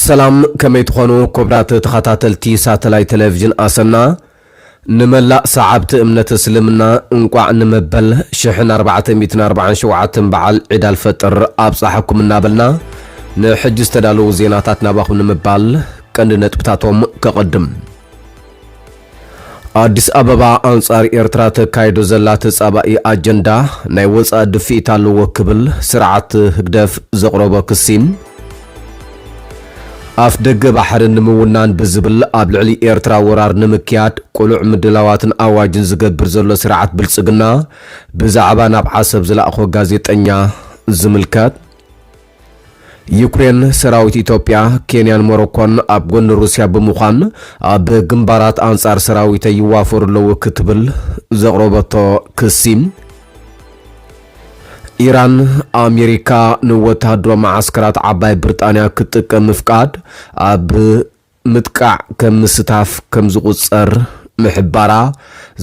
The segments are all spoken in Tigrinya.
ሰላም ከመይ ትኾኑ ክቡራት ተኸታተልቲ ሳተላይት ቴሌቪዥን ኣሰና ንመላእ ሰዓብቲ እምነት እስልምና እንቋዕ ንመበል ሽሕን ኣርባዕተ ሚእትን ኣርባዓን ሸውዓተን በዓል ዒድ ኣልፈጥር ኣብጸሓኩም እናበልና ንሕጂ ዝተዳለዉ ዜናታት ናባኹም ንምባል ቀንዲ ነጥብታቶም ከቐድም። ኣዲስ ኣበባ ኣንጻር ኤርትራ ተካይዶ ዘላ ተጻባኢ ኣጀንዳ ናይ ወጻኢ ድፍኢት ኣለዎ ክብል ስርዓት ህግደፍ ዘቕረቦ ክሲ ኣፍደገ ባሕሪ ንምውናን ብዝብል ኣብ ልዕሊ ኤርትራ ወራር ንምክያድ ቅሉዕ ምድላዋትን ኣዋጅን ዝገብር ዘሎ ስርዓት ብልጽግና ብዛዕባ ናብ ዓሰብ ዝለኣኾ ጋዜጠኛ ዝምልከት ዩክሬን ሰራዊት ኢትዮጵያ፣ ኬንያን ሞሮኮን ኣብ ጎኒ ሩስያ ብምዃን ኣብ ግንባራት ኣንጻር ሰራዊተይ ይዋፈሩ ኣለዉ ክትብል ዘቕረበቶ ክሲ፣ ኢራን፣ ኣሜሪካ ንወተሃደራዊ መዓስከራት ዓባይ ብርጣንያ ክትጥቀም ምፍቃድ ኣብ ምጥቃዕ ከም ምስታፍ ከም ዝቑጸር ምሕባራ፣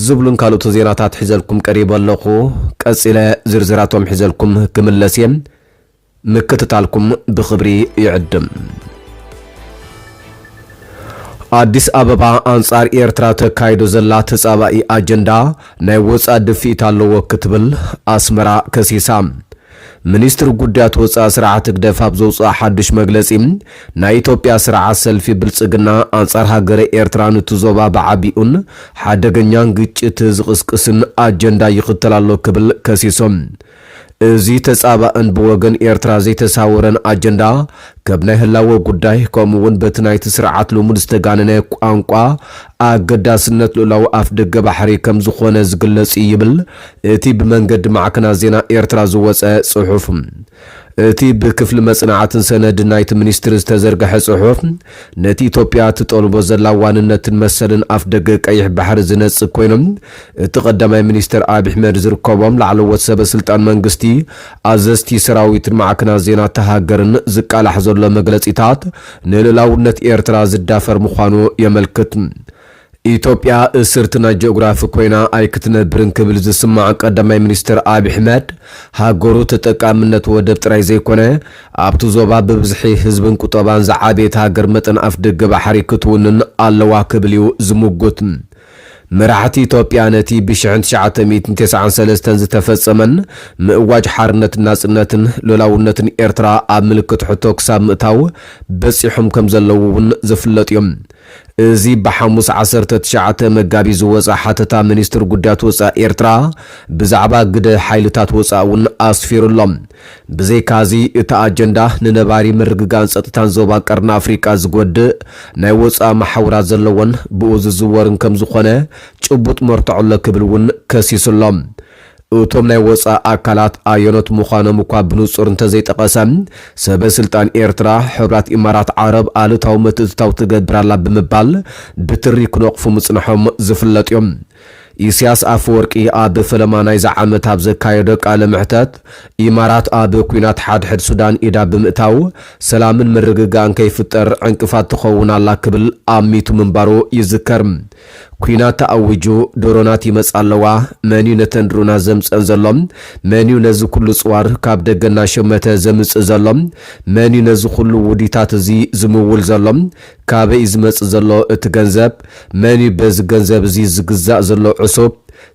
ዝብሉን ካልኦትን ዜናታት ሒዘልኩም ቀሪበ ኣለኹ። ቀጺለ ዝርዝራቶም ሒዘልኩም ክምለስ እየ። ምክትታልኩም ብኽብሪ ይዕድም። ኣዲስ ኣበባ፣ ኣንጻር ኤርትራ ተካይዶ ዘላ ተጻባኢ ኣጀንዳ ናይ ወጻእ ድፍኢት ኣለዎ ክትብል ኣስመራ ከሲሳ። ሚኒስትሪ ጉዳያት ወጻኢ ስርዓት ህግደፍ ኣብ ዘውጽኦ ሓድሽ መግለጺ፣ ናይ ኢትዮጵያ ስርዓት ሰልፊ ብልጽግና ኣንጻር ሃገረ ኤርትራ ኑቲ ዞባ ብዓቢኡን ሓደገኛን ግጭት ዝቕስቅስን ኣጀንዳ ይኽተል ኣሎ ክብል ከሲሶም። እዚ ተጻባእን ብወገን ኤርትራ ዘይተሳወረን ኣጀንዳ፣ ከብ ናይ ህላወ ጉዳይ፣ ከምኡ'ውን በቲ ናይቲ ስርዓት ልሙድ ዝተጋነነ ቋንቋ ኣገዳስነት ልኡላዊ ኣፍደገ ባሕሪ ከም ዝኾነ ዝግለጽ እዩ ይብል እቲ ብመንገዲ ማዕከናት ዜና ኤርትራ ዝወጸ ጽሑፍ። እቲ ብክፍሊ መጽናዕትን ሰነድን ናይቲ ሚኒስትሪ ዝተዘርገሐ ጽሑፍ፣ ነቲ ኢትዮጵያ እትጠልቦ ዘላ ዋንነትን መሰልን ኣፍደገ ቀይሕ ባሕሪ ዝነጽግ ኮይኑ፣ እቲ ቀዳማይ ሚኒስትር ኣብሕመድ ዝርከቦም ላዕለዎት ሰበ ስልጣን መንግስቲ፣ ኣዘዝቲ ሰራዊትን ማዕከናት ዜና እታ ሃገርን ዝቃላሕ ዘሎ መግለጺታት ንልኡላውነት ኤርትራ ዝዳፈር ምዃኑ የመልክት። ኢትዮጵያ እስርቲ ናይ ጂኦግራፊ ኮይና ኣይክትነብርን ክብል ዝስማዕ ቀዳማይ ሚኒስትር ኣብሕመድ፣ ሃገሩ ተጠቃምነት ወደብ ጥራይ ዘይኮነ፣ ኣብቲ ዞባ ብብዝሒ ህዝብን ቁጠባን ዝዓበየት ሃገር መጠን ኣፍደገ ባሕሪ ክትውንን ኣለዋ ክብል እዩ ዝምጉት። መራሕቲ ኢትዮጵያ ነቲ ብሽሕን ትሽዓተ ሚእትን ተሰዓን ሰለስተን ዝተፈጸመን ምእዋጅ ሓርነትን ናጽነትን ሉላውነትን ኤርትራ ኣብ ምልክት ሕቶ ክሳብ ምእታው በጺሖም ከም ዘለዉ እውን ዝፍለጥ እዩ። እዚ ብሓሙስ ዓሰርተ ትሽዓተ መጋቢት ዝወጽኣ ሓተታ ሚኒስትሪ ጉዳያት ወጻኢ ኤርትራ ብዛዕባ ግደ ሓይልታት ወጻኢ እውን ኣስፊሩ ኣሎ። ብዘይካ'ዚ እቲ ኣጀንዳ ንነባሪ ምርግጋእን ጸጥታን ዞባ ቀርኒ ኣፍሪቃ ዝጎድእ ናይ ወጻኢ መሓውራት ዘለዎን ብኡ ዝዝወርን ከም ዝኾነ ጭቡጥ መርትዖ ኣሎ ክብል እውን ከሲሱ ኣሎ። እቶም ናይ ወጻኢ ኣካላት ኣየኖት ምዃኖም እኳ ብንጹር እንተዘይጠቐሰ፣ ሰበ ስልጣን ኤርትራ ሕብራት ኢማራት ዓረብ ኣሉታዊ ምትእትታው ትገብር ኣላ ብምባል ብትሪ ክነቕፉ ምጽንሖም ዝፍለጥ'ዩ። ኢሲያስ ኣፈወርቂ ኣብ ፈለማ ናይዚ ዓመት ኣብ ዘካየዶ ቃለ መሕተት፣ ኢማራት ኣብ ኲናት ሓድሕድ ሱዳን ኢዳ ብምእታው ሰላምን ምርግጋእን ከይፍጠር ዕንቅፋት ትኸውን ኣላ ክብል ኣሚቱ ምንባሩ ይዝከር። ኲናት ተኣዊጁ፣ ድሮናት ይመጻ ኣለዋ፣ መንዩ ነተን ድሮናት ዘምጸን ዘሎ? መንዩ ነዚ ኩሉ ጽዋር ካብ ደገ እናሸመተ ዘምጽእ ዘሎ? መንዩ ነዚ ኩሉ ውዲታት እዚ ዝምውል ዘሎ? ካበይ እዩ ዝመጽእ ዘሎ እቲ ገንዘብ? መን እዩ በዚ ገንዘብ እዚ ዝግዛእ ዘሎ ዕሱብ?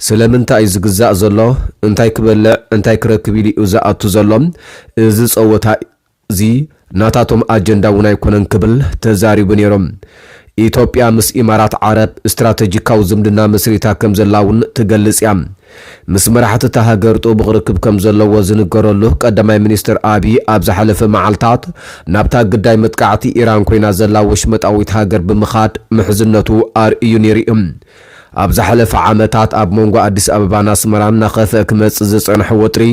ስለምንታይ እዩ ዝግዛእ ዘሎ? እንታይ ክበልዕ እንታይ ክረክብ ኢሉ እዩ ዝኣቱ ዘሎ? እዚ ጸወታ እዚ ናታቶም ኣጀንዳ እውን ኣይኮነን ክብል ተዛሪቡ ነይሩ። ኢትዮጵያ ምስ ኢማራት ዓረብ ስትራተጂካዊ ዝምድና መስሪታ ከምዘላ እውን ትገልጽ እያ። ምስ መራሕቲ እታ ሃገር ጥቡቕ ርክብ ከም ዘለዎ ዝንገረሉ ቀዳማይ ሚኒስተር ኣብዪ ኣብ ዝሓለፈ መዓልታት ናብታ ግዳይ መጥቃዕቲ ኢራን ኮይና ዘላ ወሽመጣዊት ሃገር ብምኻድ ምሕዝነቱ ኣርእዩ ነይሩ እዩ። ኣብ ዝሓለፈ ዓመታት ኣብ መንጎ ኣዲስ ኣበባን ኣስመራን እናኸፍኣ ክመጽእ ዝጸንሐ ወጥሪ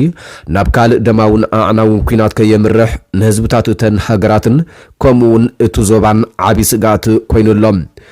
ናብ ካልእ ደማውን ኣዕናውን ኲናት ከየምርሕ ንህዝብታት እተን ሃገራትን ከምኡ'ውን እቲ ዞባን ዓቢ ስግኣት ኮይኑ ኣሎ።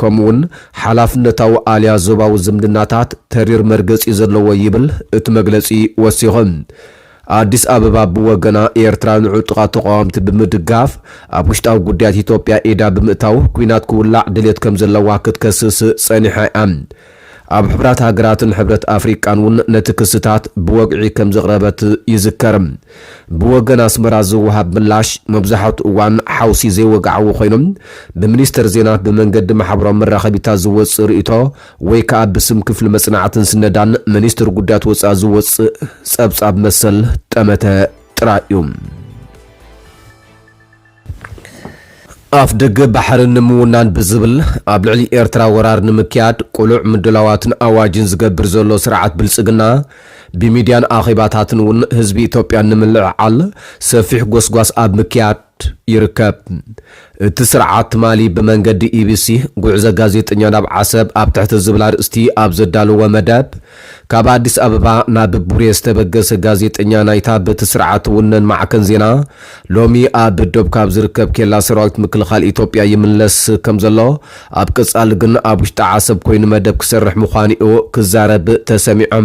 ከምኡ'ውን ሓላፍነታዊ ኣልያ ዞባዊ ዝምድናታት ተሪር መርገጺ ዘለዎ ይብል እቲ መግለጺ ወሲኹ። ኣዲስ ኣበባ ብወገና ኤርትራ ንዕጡቓት ተቓወምቲ ብምድጋፍ ኣብ ውሽጣዊ ጉዳያት ኢትዮጵያ ኢዳ ብምእታው ኲናት ክውላዕ ድሌት ከምዘለዋ ክትከስስ ጸኒሓ'ያ። ኣብ ሕቡራት ሃገራትን ሕብረት ኣፍሪቃን እውን ነቲ ክስታት ብወግዒ ከም ዘቕረበት ይዝከር። ብወገን ኣስመራ ዝወሃብ ምላሽ መብዛሕትኡ እዋን ሓውሲ ዘይወግዓዊ ኮይኑ፣ ብሚኒስተር ዜና ብመንገዲ ማሕበራዊ መራኸቢታት ዝወጽእ ርእይቶ ወይ ከኣ ብስም ክፍሊ መጽናዕትን ስነዳን ሚኒስትሪ ጉዳያት ወጻኢ ዝወጽእ ጸብጻብ መሰል ጠመተ ጥራይ እዩ። ኣፍደገ ባሕሪ ንምውናን ብዝብል ኣብ ልዕሊ ኤርትራ ወራር ንምክያድ ቅሉዕ ምድላዋትን ኣዋጅን ዝገብር ዘሎ ስርዓት ብልጽግና፣ ብሚድያን ኣኼባታትን እውን ህዝቢ ኢትዮጵያ ንምልዕዓል ሰፊሕ ጎስጓስ ኣብ ምክያድ ይርከብ። እቲ ስርዓት ትማሊ ብመንገዲ ኢቢሲ፣ ጉዕዞ ጋዜጠኛ ናብ ዓሰብ ኣብ ትሕቲ ዝብል ኣርእስቲ ኣብ ዘዳለዎ መደብ፣ ካብ ኣዲስ ኣበባ ናብ ቡሬ ዝተበገሰ ጋዜጠኛ ናይታ በቲ ስርዓት ትውነን ማዕከን ዜና ሎሚ ኣብ ዶብ ካብ ዝርከብ ኬላ ሰራዊት ምክልኻል ኢትዮጵያ ይምለስ ከምዘሎ ኣብ ቀጻሊ ግን ኣብ ውሽጢ ዓሰብ ኮይኑ መደብ ክሰርሕ ምዃኑ'ዩ ክዛረብ ተሰሚዑ።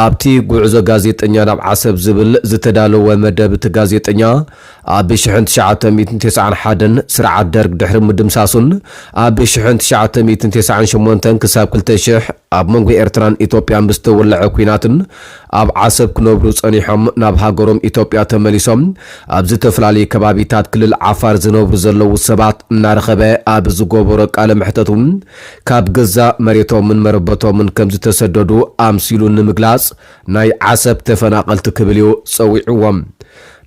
ኣብቲ ጉዕዞ ጋዜጠኛ ናብ ዓሰብ ዝብል ዝተዳለወ መደብ እቲ ጋዜጠኛ ኣብ ሽሕን ትሽዓተ ሚእትን ተስዓን ሓደን ስርዓት ደርግ ድሕሪ ምድምሳሱን ኣብ ሽሕን ትሽዓተ ሚእትን ተስዓን ሸሞንተን ክሳብ ክልተ ሽሕ ኣብ መንጎ ኤርትራን ኢትዮጵያን ብዝተወለዐ ኲናትን ኣብ ዓሰብ ክነብሩ ጸኒሖም ናብ ሃገሮም ኢትዮጵያ ተመሊሶም ኣብ ዝተፈላለዩ ከባቢታት ክልል ዓፋር ዝነብሩ ዘለዉ ሰባት እናረኸበ ኣብ ዝገበሮ ቃለ መሕተቱ ካብ ገዛ መሬቶምን መረበቶምን ከምዝተሰደዱ ኣምሲሉ ንምግላጽ ናይ ዓሰብ ተፈናቐልቲ ክብል እዩ ጸዊዕዎም።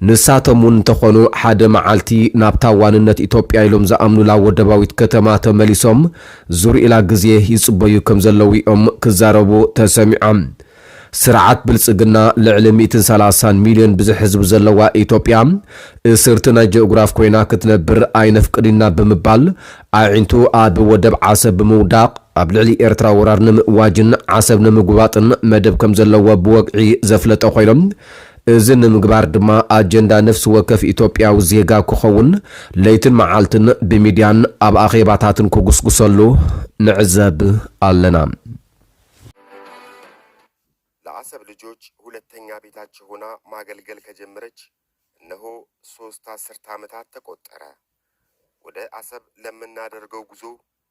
ንሳቶም እውን እንተኾኑ ሓደ መዓልቲ ናብታ ዋንነት ኢትዮጵያ ኢሎም ዝኣምኑላ ወደባዊት ከተማ ተመሊሶም ዝርኡላ ግዜ ይፅበዩ ከም ዘለዉ እዮም ክዛረቡ ተሰሚዖም። ስርዓት ብልፅግና ልዕሊ ሚእትን ሰላሳን ሚልዮን ብዝሒ ህዝቢ ዘለዋ ኢትዮጵያ እስርቲ ናይ ጂኦግራፍ ኮይና ክትነብር ኣይነፍቅድን'ና ብምባል ኣዒንቱ ኣብ ወደብ ዓሰብ ብምውዳቕ ኣብ ልዕሊ ኤርትራ ወራር ንምእዋጅን ዓሰብ ንምጉባጥን መደብ ከም ዘለዎ ብወግዒ ዘፍለጠ ኮይኑ እዚ ንምግባር ድማ ኣጀንዳ ነፍሲ ወከፍ ኢትዮጵያዊ ዜጋ ክኸውን ለይትን መዓልትን ብሚድያን ኣብ ኣኼባታትን ክጉስጉሰሉ ንዕዘብ ኣለና። ለዓሰብ ልጆች ሁለተኛ ቤታቸው ሆና ማገልገል ከጀመረች እነሆ ሶስት አስርት ዓመታት ተቆጠረ። ወደ አሰብ ለምናደርገው ጉዞ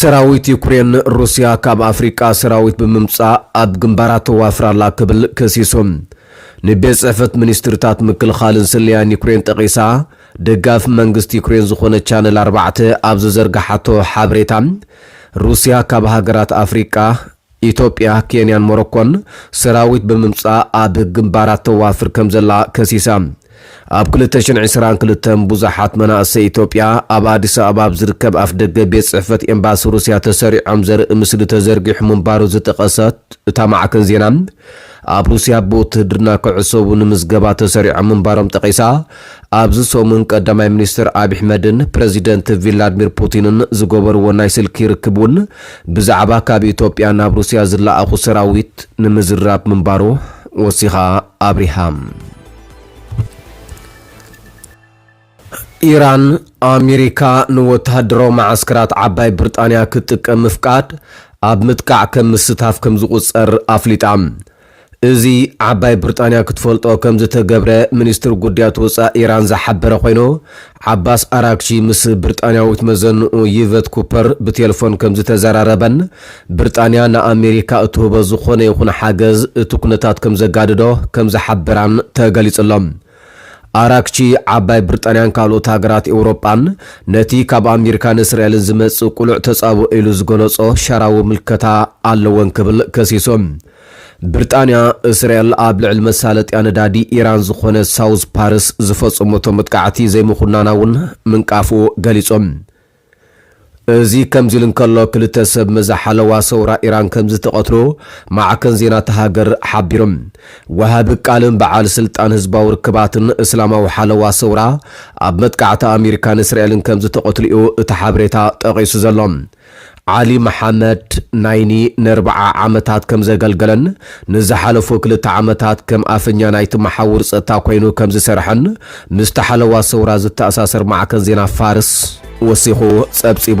ሰራዊት ዩክሬን፣ ሩስያ ካብ ኣፍሪቃ ሰራዊት ብምምጻእ ኣብ ግንባራት ተዋፍር ኣላ ክብል ከሲሱ። ንቤት ጽሕፈት ሚኒስትሪታት ምክልኻልን ስለያን ዩክሬን ጠቒሳ ደጋፊ መንግስቲ ዩክሬን ዝኾነት ቻነል ኣርባዕተ ኣብ ዝዘርግሓቶ ሓበሬታ፣ ሩስያ ካብ ሃገራት ኣፍሪቃ፣ ኢትዮጵያ፣ ኬንያን ሞሮኮን ሰራዊት ብምምጻእ ኣብ ግንባራት ተዋፍር ከምዘላ ከሲሳ። ኣብ ክልተ ሽሕን ዕስራን ክልተን ብዙሓት መናእሰይ ኢትዮጵያ ኣብ ኣዲስ ኣበባ ኣብ ዝርከብ ኣፍደገ ቤት ጽሕፈት ኤምባሲ ሩስያ ተሰሪዖም ዘርኢ ምስሊ ተዘርጊሑ ምንባሩ ዝጠቐሰት እታ ማዕከን ዜና፣ ኣብ ሩስያ ብውትህድርና ክዕሰቡ ንምዝገባ ተሰሪዖም ምንባሮም ጠቒሳ፣ ኣብዚ ሰሙን ቀዳማይ ሚኒስተር ኣብዪ ኣሕመድን ፕረዚደንት ቪላድሚር ፑቲንን ዝገበርዎ ናይ ስልኪ ርክብ'ውን ብዛዕባ ካብ ኢትዮጵያ ናብ ሩስያ ዝለኣኹ ሰራዊት ንምዝራብ ምንባሩ ወሲኻ ኣብሪሃ። ኢራን፣ ኣሜሪካ ንወተሃደራዊ መዓስከራት ዓባይ ብርጣንያ ክትጥቀም ምፍቃድ፣ ኣብ ምጥቃዕ ከም ምስታፍ ከም ዝቑጸር ኣፍሊጣ። እዚ፣ ዓባይ ብርጣንያ ክትፈልጦ ከም ዝተገብረ ሚኒስትሪ ጉዳያት ወጻኢ ኢራን ዝሓበረ ኮይኑ፣ ዓባስ ኣራግቺ ምስ ብርጣንያዊት መዘንኡ ይቨት ኩፐር ብቴልፎን ከም ዝተዘራረበን ብርጣንያ ንኣሜሪካ እትህቦ ዝኾነ ይኹን ሓገዝ እቲ ኩነታት ከም ዘጋድዶ ከም ዝሓበራን ተገሊጹ'ሎ። ኣራግቺ፣ ዓባይ ብርጣንያን ካልኦት ሃገራት ኤውሮጳን ነቲ ካብ ኣሚሪካን እስራኤልን ዝመጽእ ቅሉዕ ተጻብኦ ኢሉ ዝገለጾ ሸራዊ ምልከታ ኣለወን ክብል ከሲሱ። ብርጣንያ፣ እስራኤል ኣብ ልዕሊ መሳለጥያ ነዳዲ ኢራን ዝኾነ ሳውዝ ፓርስ ዝፈጸመቶ መጥቃዕቲ ዘይምኹናና'ውን ምንቃፉ ገሊጹ። እዚ ከምዚ'ሉ እንከሎ፣ ክልተ ሰብ መዚ ሓለዋ ሰውራ ኢራን ከምዝተቐትሉ ማዕከን ዜና'ታ ሃገር ሓቢሩ። ወሃቢ ቃልን በዓል ስልጣን ህዝባዊ ርክባትን እስላማዊ ሓለዋ ሰውራ ኣብ መጥቃዕቲ ኣሜሪካን እስራኤልን ከምዝተቐትሉ'ዩ እቲ ሓበሬታ ጠቒሱ ዘሎ። ዓሊ መሓመድ ናይኒ ነርብዓ ዓመታት ከምዘገልገለን ንዝሓለፉ ክልተ ዓመታት ከም ኣፈኛ ናይቲ መሓውር ጸጥታ ኮይኑ ከምዝሰርሐን ምስቲ ሓለዋ ሰውራ ዝተኣሳሰር ማዕከን ዜና ፋርስ ወሲኹ ጸብጺቡ።